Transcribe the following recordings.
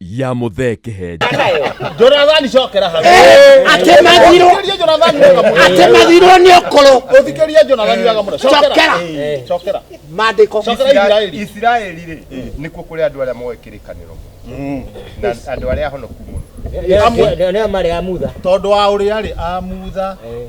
ya muthee kihenja Jonathani cokera hau. Atemerirwo- Ũthikĩrĩrie Jonathani wega mũno. atemerirwo nĩ ũkũrũ Ũthikĩrĩrie Jonathani wega mũno. Cokera. Cokera. Eh, Cokera. mandĩko Cokera Isiraeli. isiraeli rĩ nĩkuo kũrĩ andũ arĩa moĩ kĩrĩkanĩro na andũ arĩa ahonoku mũno Amwe. nä marä a mutha Tondũ wa ũrĩa rĩ amutha.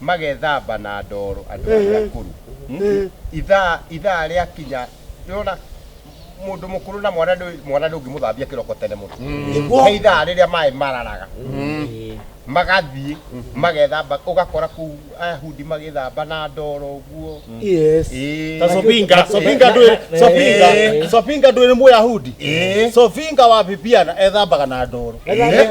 magethamba na ndoro andũ arĩa Ehe. akũrũ Mm. Ehe. ithaa ithaa rĩakinya nĩwona mũndũ mũkũrũ na mwana ndũ- mwana ndũngĩmũthambia kĩroko tene mũno Nĩguo. he ithaa rĩrĩa maĩ mararaga magathiĩ magethamba ũgakora kũu ahundi magethamba na ndoro ũguo Yes. Ĩĩ. Ta Sopinga, Eh, Sopinga eh, ndwĩ, eh, Sopinga, eh, Sopinga ndwĩ nĩ Mũyahudi. Eh. Sopinga wa Bibiana ethambaga na ndoro. Eh.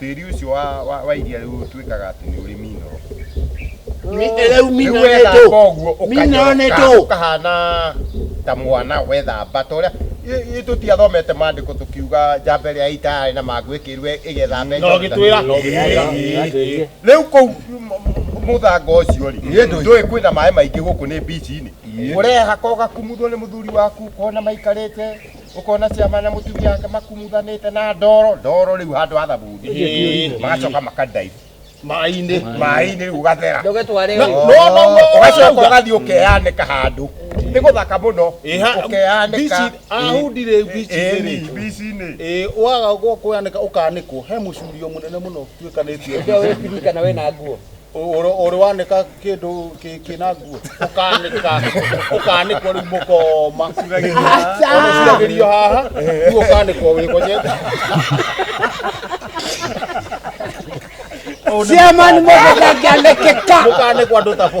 tĩri ũcio wa, wa, wa iria rĩu ũtuĩkaga atĩ nĩ ũrĩ minoro Mi- rĩu rĩu mina nĩ wethamba ndũ ũguo mina nĩ ũkanyoroka ndũ ũkahana ta mwana wethamba ta ũrĩa i- i- tũtiathomete maandĩko tũkiuga njamba ĩrĩa ĩitayarĩ na mangũ ĩkĩrwe ĩgethamba No, gĩtwĩra. Ĩĩ. rĩu kũu mũthanga ũcio rĩ Nĩ ndũi. ndũĩ kwĩna maĩ maingĩ gũkũ nĩ bici-inĩ ũreha kogakumutho nĩ mũthuri waku kona maikarĩte ukona ciama na mutumia wake makumuthanite na ndoro ndoro riu handu ha thabuni Ĩĩ. magacoka makadaive Maĩ-inĩ. maĩ-inĩ riu ugathera Ndũgĩtware No, ũguo. no, no, no, ugacoka no. ugathii ukeyanika handu ni guthaka muno Ĩ, ha- ukeyanika bici- ahundire bici-inĩ rĩ. bici-inĩ Ĩĩ, waga gwa kũyanĩka ũkanĩkwo he mũcurio mũnene mũno tuĩkanĩtie Ndio wewe pilika na wewe na nguo. Ũrĩ wanĩka kĩndũ kĩna nguo ũkanĩka ũkanĩkwo rĩu mũkoma ũcuragĩrio haha rĩu ũkanĩkwo wĩgonyete ciamani mũndũ ndangĩanĩkĩka mũkanĩkwo andũ tabo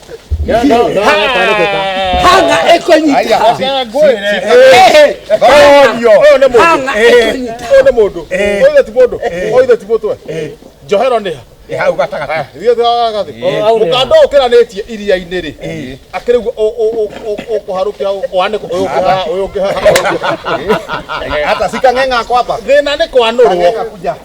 hanga ĩkũnyita hanga ĩkũnyita nĩ mũndũ oithe ti mũndũ oithe ti mũtwe njohero nĩ ha hau gatagatĩ ithuĩ twagagatĩ mũkanda ũyũ ũkĩranĩtie iria-inĩ rĩ akĩrĩ guo ũkũharũkia wanĩkũ ũyũ ũkĩhaha ũyũ ũkĩhaha hata sikang'eng'a kwamba thĩna nĩ kwanũrwo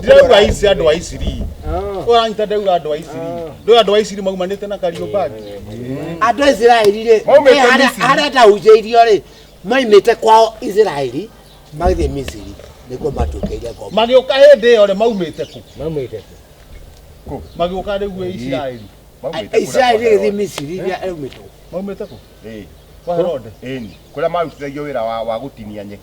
ndĩrauga aici andå a iciri åranyita ndauga andå a iciri ndå andå a iciri maumanä na kariåmbangi andå a isiraeli rä Maumĩte eh, harĩa- Misiri. harĩa ndahunjĩirio rĩ maimĩte kwao isiraeli magĩthiĩ misiri nĩkuo matuĩkĩire ngombo magä å ka hä ndä ä yo rä maumä te kå mamwite magä å ka rä u isiraeli isiraeli ĩgĩthiĩ misiri iria ĩrumĩtwo maumä te kå kwa herode kå rä a marutithagio wä ra wa gå tinia nyeki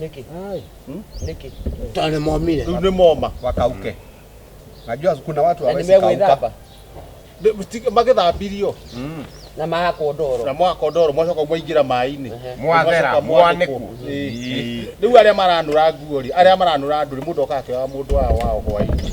nĩkĩ Hmm? nĩkĩ Tondũ nĩ momire. Rĩu nĩ moma wakauke najua kuna watu na hawezi kauka nĩmegwĩthamba Nĩ- mti- magĩthambirio Mm. na magakwo na ndoro mwaka ndoro mwacoka mwaingĩra maĩ-inĩ Ehe. Mwathera, Mwacoka mwanĩkwo. mwanĩkwo. Ĩĩ. rĩu arĩa maranũra nguo rĩ arĩa maranũra andũ rĩ mũndũ oka akĩoya mũndũ wao wao hwaĩ-inĩ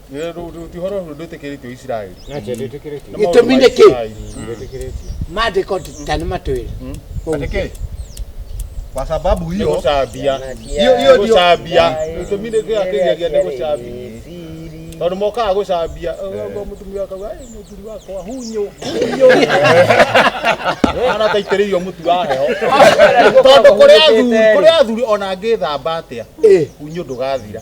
gĩtũmi nĩ kĩ mandĩko ta nĩ matwĩra Atĩkĩ? Kwa sababu hiyo gũcambia Hiyo- hiyo ndio- gũcambia gĩtũmi nĩ kĩrĩa kĩgeria nĩ gũcambia tondũ mokaga gũcambia ũguo mũtumia akauga "Ai, mũthuri wakwa hunyũ hunyũ anataitĩrĩirio mũtu wa heho tondũ kũrĩ athuri kũrĩ athuri ona ngĩthamba atĩa hunyũ ndũgathira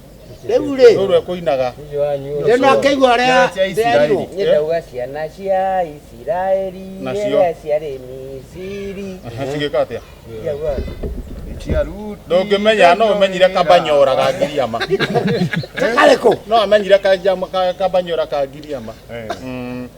rĩu rĩ rũrũ ekũinaga rĩu no akĩigua ũrĩa Nyũmba cia Isiraeli. nderirwo Niĩ ndauga ciana cia Isiraeli Nacio. iria ciarĩ Misiri. cigĩka atĩa Ndiauga. ndũngĩmenya no ũmenyire kabanyora ga ngiriama karĩkũ no amenyire kajama- ka- kabanyora ka ngiriama Mm.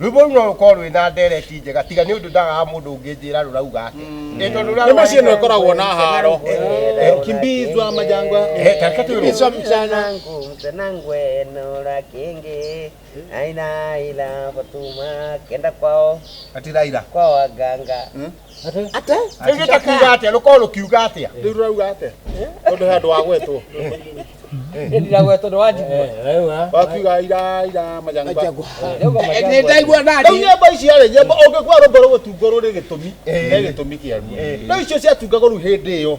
rwĩmbo rũu no rũkorwo rwĩ na ndereti njega tiga nĩ ũndũ ndagaga mũndũ ũngĩnjĩra rũrauga atĩ Ĩ tondũ rũrauga- Nyĩmbo ciĩ no ikoragwo na haro. Kimbizwa majangwa. Eh, tareka twĩrwo. Kimbizwa mchana. Ati Raila. kwa waganga ate Nĩgĩte kuuga atĩa rũkorwo rũkiuga atĩa rĩu rũrauga atĩa tondũ he andũ wagwetwo ndiragwe tondũ wa njigua wakiuga ira ira majangwa nĩ ndaigua rĩu nani nyĩmbo icio rĩ nyĩmbo ũngĩkua rũmbo rũgũtungwo rũrĩ gĩtũmi he gĩtũmi kĩaruo rĩu icio ciatungagwo rĩu hĩndĩ ĩyo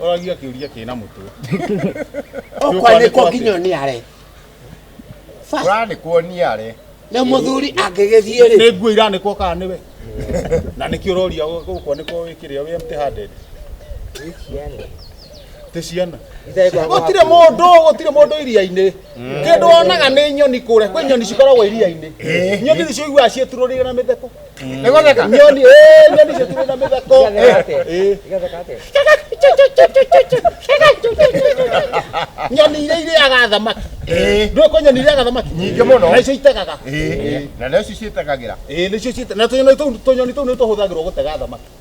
Ũragia kĩũria kĩna mũtwe. Ũkwanĩkwo nginya ũniare. Ũranĩkwo ũniare. Nĩ mũthuri angĩgĩthiĩ rĩ. Nĩ nguo iranĩkwo kana nĩwe? Na nĩkĩ ũroria ũkwanĩkwo wĩkĩrĩa wĩ empty handed? Tĩ ciana. Gũtirĩ mũndũ, gũtirĩ mũndũ iria-inĩ. Kĩndũ wonaga nĩ nyoni kũrĩa. Kwĩ nyoni cikoragwo iria-inĩ. Nyoni nĩcio iguaga ciĩturũrĩire na mĩtheko. nĩ gũtheka nyoni eh, nyoni icio cirĩ na mĩtheko Eh, nyoni iria irĩaga thamaki Eh. ndũĩ kwĩ nyoni irĩaga thamaki Nyingĩ mũno. na icio itegaga Eh, na nĩcio ciĩtagagĩra Eh, nĩcio ciĩta- na tũnyoni tũu- tũnyoni tũu nĩ tũhũthagĩrwo gũtega thamaki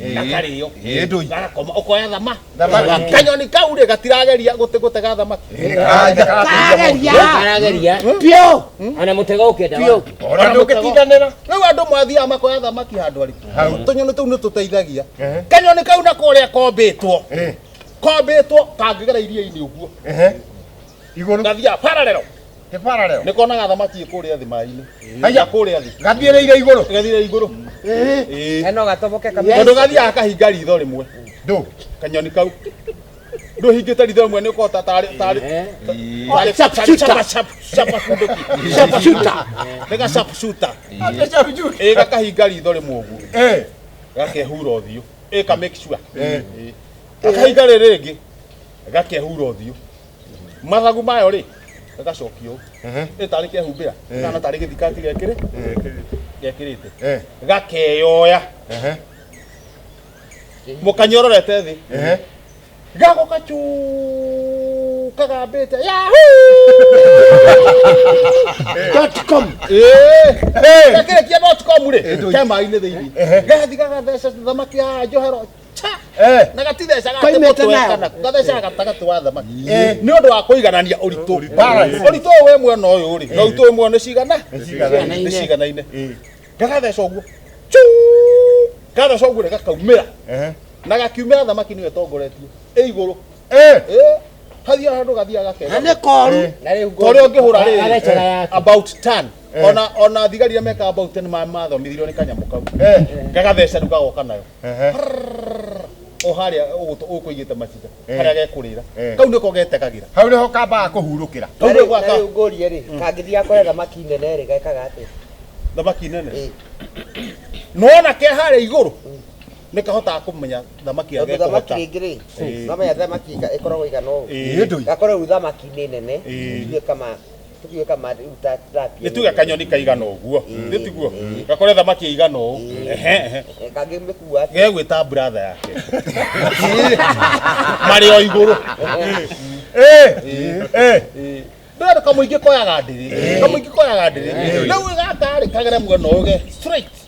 gatarĩ yo Ĩĩ ndũi. garakoma ũkoya thama Thamaki. kanyoni kau rĩ gatirageria gũte- gũtega thamaki Karageria. karageria Piũ. ona mũtego ũkĩenda Piũ. wa- Ona ndũngĩtindanĩra. rĩu andũ mwathiaga makoya thamaki handũ arĩkũ Hau. tũnyoni tũu nĩ tũteithagia Ehe. kanyoni kau na kũrĩa kombĩtwo Eh, kombĩtwo kangĩgera iria-inĩ ũguo eh. Igũrũ. gathiaga pararero Nĩ parallel. nĩ konaga thamaki kũrĩa thĩ maĩ-inĩ Haiya. kũrĩa thĩ Gathiĩrĩire igũrũ. gathire igũrũ Ĩĩ. Ĩĩ. Eno gatoboke Yes. kamera. tondũ gathiaga kahinga ritho rĩmwe Ndũ. kanyoni kau ndũhingĩte ritho rĩmwe nĩ kota tarĩ tarĩ Eh. tarĩ Sharp tarĩ shooter. chapa chapa chapa kunduki Sharp shooter. nĩ ga sharp shooter ĩ gakahinga ritho rĩmwe ũguo Eh. gakehura ũthiũ ĩ ka make sure Eh. Ĩ. gakahinga rĩrĩ rĩngĩ gakehura ũthiũ mathagu mayo rĩ gagacokio Ehe. ĩ tarĩ kehumbĩra Eh. kana tarĩ gĩthikati gekĩrĩ gekĩrĩte Eh. gakeyoya Ehe. mũkanyororete thĩ Ehe. gago kacu kagambĩte Dotcom. gakĩrĩkia dotcom rĩ ke maĩ-inĩ thĩinĩ gathi gagatheca thamaki ya njohero Eh. na gatithecaga Kaimĩte nayo. gathecaga gatagatĩ wa thamaki Eh. nĩ ũndũ wa kũiganania ũritũ Balance. ũritũ ũyũ wĩ mwena ũyũ rĩ na ũritũ ũyũ mwena nĩ cigana ciganaine. nĩ ciganaine gagatheca ũguo Chu! gatheca ũguo rĩ gakaumĩra Ehe. na gakiumĩra thamaki nĩyo ĩtongoretie ĩ igũrũ Eh. Eh, hathia handũ gathiaga na gakega nĩ koru Eh. na rĩu tondũ ũngĩhũra rĩrĩ arecaga yake about 10 ona ona thigari iria meka about 10 ma mathomithirio nĩ kanyamũ kau Eh. gagatheca rĩu gagoka nayo Ehe. Prrrr. o harĩa ũgũtũ ũkũigĩte maciga Eh. harĩa gekũrĩra Eh. kau nĩko getekagĩra hau nĩho kambaga kũhurũkĩra Kau nĩ gwaka. rĩu ngũrie rĩ kangĩthiĩ akore thamaki nene rĩ gekaga atĩa thamaki nene Ĩĩ. nona ke harĩa igũrũ nĩ kahotaga kũmenya thamaki tondũ thamaki agekũhota rĩngĩ rĩ Ĩĩ. nomenya thamaki ĩga- ĩkoragwo igana ũũ Ĩĩ. Ĩĩ ndũi. gakorwo rĩu thamaki nĩ nene Ĩĩ. ithuĩ kama tuge kama rĩu ta tilapia nituge kanyoni kaigana ũguo nĩ tiguo gakore thamaki ĩigana ũũ Ehe, ehe. Eh, kangĩmĩkua atĩa? gegwĩta bratha yake marĩ o igũrũ ndũrenda kamũingĩ koyaga ndĩrĩ kamũingĩ koyaga ndĩrĩ rĩu ĩgatarĩ kagere muono ũge straight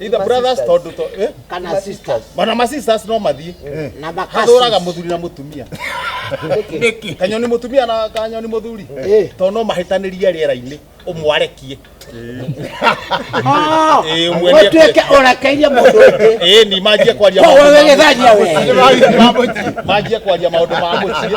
Either brothers tondu to eh kana sisters bana ma sisters no mathie na makasi hathuraga muthuri na mutumia niki kanyoni mutumia na kanyoni muthuri Eh. to no mahitanirie riera-ini umwarekie Ah, Eh, umwendie wetueke urakairie mundu ungi eh ni manjie kwaria ko wewe githania we manjie kwaria maundu ma muciĩ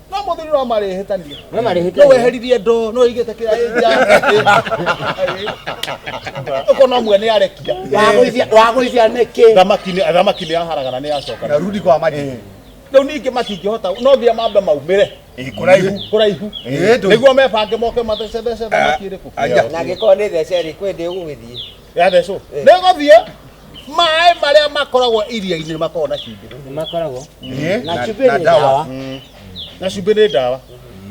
no må thuri no marä hä tania No marĩ hĩtania. no weheririe ndo no igä te kä ra å ko no mwene arekia Wagũithia- wagũithia nĩkĩ thamaki nĩ- thamaki nä yaharagana nä yacoka na rudi kwa maji rä u ningä matingä hota no nginya mambe maumä re Eh, kuraihu kå raihu Eh, ndũ- nä guo mebange moke mathecethece thamaki ä rä kå Anja. na angĩkorwo nĩ thece rĩ kwĩ ndĩ ũgũgĩthiĩ yathecwo nĩ gũthiĩ maĩ marĩa makoragwo iria-inĩ nĩ makoragwo na cumbĩ nĩ makoragwo Eh, na cumbĩ nĩ ndawa mm, na cumbĩ nĩ ndawa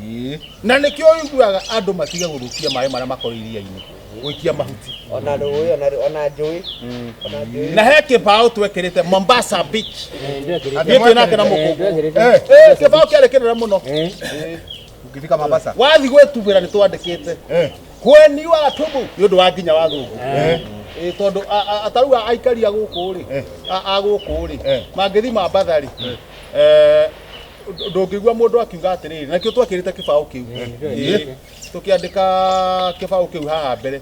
eh. na nĩkĩo ũiguaga andũ matige gũthũkia maĩ marĩa makoragwo iria-inĩ gũikia mahuti ona rũĩ ona rũ- ona njũĩ ona njũĩ na he kĩbaũ twekĩrĩte Mombasa Beach Ndio kile. niĩ twĩnake na mũkũngũ Ndio kile. Eh, kĩbaũ kĩarĩ kĩnene mũno Eh. Tungĩthika Mombasa. wathi gwĩtubĩra nĩ twandĩkĩte Eh. kweni wa tũmũ nĩ ũndũ wa nginya wa thũngũ Eh. Ĩ, tondũ a- a- atarau a- aikaria gũkũ rĩ Eh. a- a gũkũ rĩ Eh. mangĩthi mambatha rĩ eh, ndũ- ndũngĩigua mũndũ akiuga atĩrĩrĩ nakĩo twakĩrĩte kĩbaũ kĩu Ĩ, tũkĩandĩka kĩbaũ kĩu haha mbere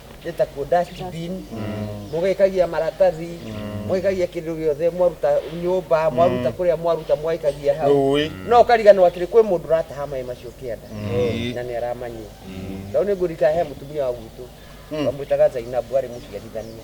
gĩtakuo dustbin mũgĩkagia maratathi mũgĩkagia kĩndũ gĩothe mwaruta nyũmba mwaruta kũrĩa mwaruta mwaikagia hau Rũĩ. no ũkariganwo atĩrĩ kwĩ mũndũ ũrataha maĩ macio kĩanda na nĩ aramanyua tondũ nĩ ngũrika he mũtumia wa gwitũ wamwĩtaga Zainabu arĩ mũciarithania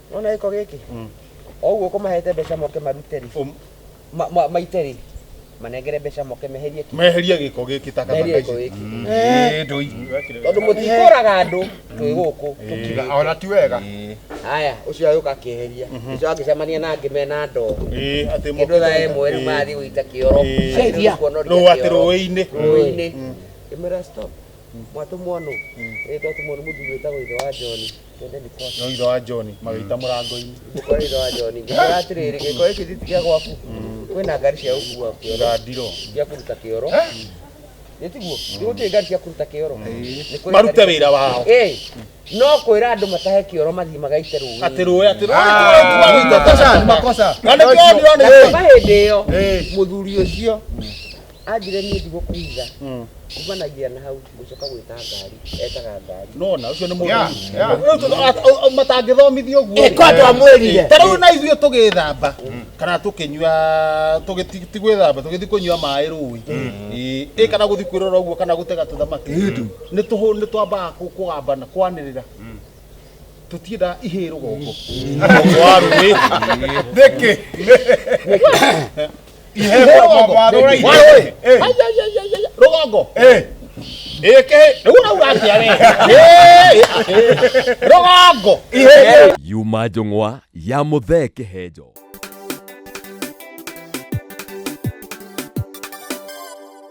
nona gĩko gĩkĩ o ũguo ũkũmahete mbeca moke marute rĩ Um. ma- ma- maite rĩ manengere mbeca moke meherie ki meherie gĩko gĩkĩ takataka meherie ici gĩko gĩkĩ Ĩĩ, ndũi- tondũ mũtikũraga andũ twĩ gũkũ Tiga, ona ti wega Ĩĩ. haya ũcio agĩũka akĩeheria ũcio angĩcemania na angĩ mena ndoo Ĩĩ, atĩ kĩndũ mokĩte- thaa ĩmwe rĩu Ĩĩ. marathiĩ gũita kĩoro Ĩĩ. Cenjia. Nũũ atĩ rũĩ-inĩ rũĩ-inĩ ĩmera stop mwatũmwo nũ ĩĩ twatũmwo nĩ mũthuri wĩtagwo ithe wa John Nyoiro wa John magĩita mũrango-inĩ. Nyoiro wa John ngĩmwĩra atĩrĩrĩ gĩko gĩkĩ ti kĩa gwaku kwĩna ngari cia gũkua kĩoro ndiro cia kũruta kĩoro nĩtiguo nĩgũtirĩ ngari cia kũruta kĩoro marute wĩra wao no kwĩra andũ matahe kĩoro mathiĩ magaite rũĩ atĩ rũĩ atĩ rũĩ ah. makosa na nĩkĩo ndirona hĩndĩ ĩyo mũthuri ũcio Anjire niĩ ndigũkũiga. Kumanagia na hau ngũcoka gwĩta ngari. Etaga ngari. Nona ũcio nĩ Yeah, yeah. mũndũ matangĩthomithio ũguo Eh, ko andũ a mwĩrire. ta rĩu na ithuĩ tũgĩthamba kana tũkĩnyua tũgĩthi- ti gwĩthamba tũgĩthi kũnyua maĩ rũĩ Ĩ, ĩ kana gũthi kwĩrora ũguo kana gũtega tũthamaki nĩ tũhũ nĩ twambaga kũ- kũgamba na kwanĩrĩra tũtiendaga ihĩ rũgongo Rũgongo wa rũĩ nĩkĩ ihe rũgongo rũgongo yuma njũng'wa ya mũthee kĩhenjo